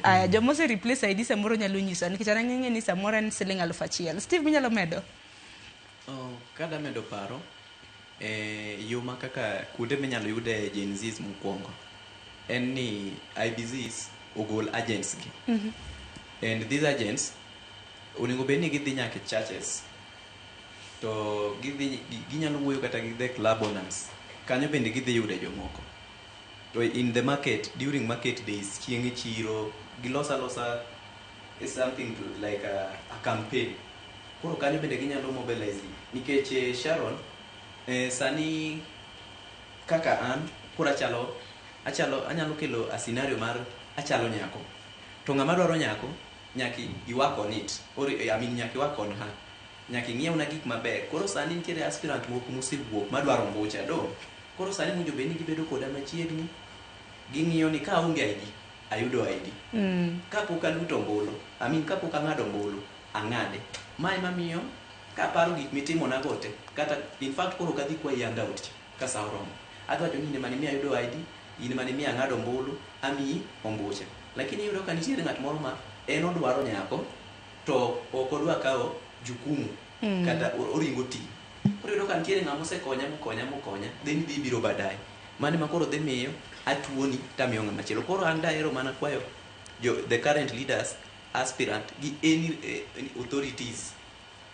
Aya, joma ose replace ID samoro nyalo nyisa nikech an ang'eng'e ni samoro en siling aluf achiel. Steve minyalo medo? Oh, kada medo paro eh, yo ma kaka kuonde minyalo yude Gen Zs mokwongo en ni IBZs ogol agents gi and these agents onego bed ni gidhi nyaka e churches to gidhi gi- ginyalo wuoyo kata gi the club owners kanyo bende gidhi yude jomoko To in the market during market days chieng e chiro giloso alosa is something to like a, a campaign koro kanyo bende ginyalo mobilize ji nikech eh, Sharon eh, sani kaka an koro achalo achalo anyalo kelo a scenario mar achalo nyako to ng'ama dwaro nyako nyaki iwak on it or eh, I mean nyaki iwak on her Nyaka ing'iewna gik maber. Koro sani nitiere aspirant moko mosewuok madwaro ombucha. Do. Koro sani owinjo bed ni gibedo koda machiegni, ging'iyo ni ka aonge ID, ayudo ID. Ka pok aluto ombulu, I mean ka pok ang'ado ombulu, ang'ade. Ma ema miyo kaparo gik mitimona go te, kata in fact koro ok adhi kwayi handout cha ka sa oromo. Adhi wacho ni in ema nimiyo ayudo ID, in ema nimiyo ang'ado ombulu, amiyi ombucha. Lakini iyudo ka nitiere ng'at moro ma en odwaro nyako. to ok odwa kawo jukumu kata oringo oti. Koro iyudo ka nitiere ng'ama osekonya mokonya mokonya then idhi ibiro badaye. Mano ema koro dhi miyo atuoni to amiyo ng'ama chielo. Koro an dahero mana kwayo the current leaders, aspirant gi any authorities,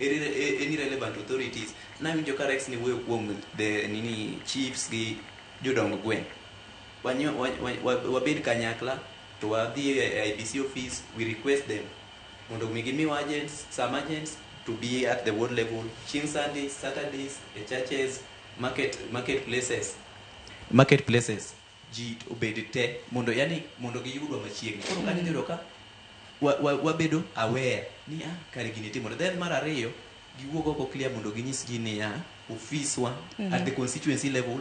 any relevant authorities. Nawinjo ka Rex niwuoyo kuom the nini chiefs gi jodong gweng'. Wabed kanyakla to wadhi e IEBC office we request them. mondo omi gimiwa agents, some agents to be at the ward level chieng' Sundays, Saturdays, e churches, market, market places, market places ji obed te mondo yani mondo giyudwa machiegni. Koro kanyo idhi yudo ka wa- wa- wabedo aware ni ah, kare gini timore. Then mar ariyo giwuog oko clear mondo ginyis ji niya ofiswa at the constituency level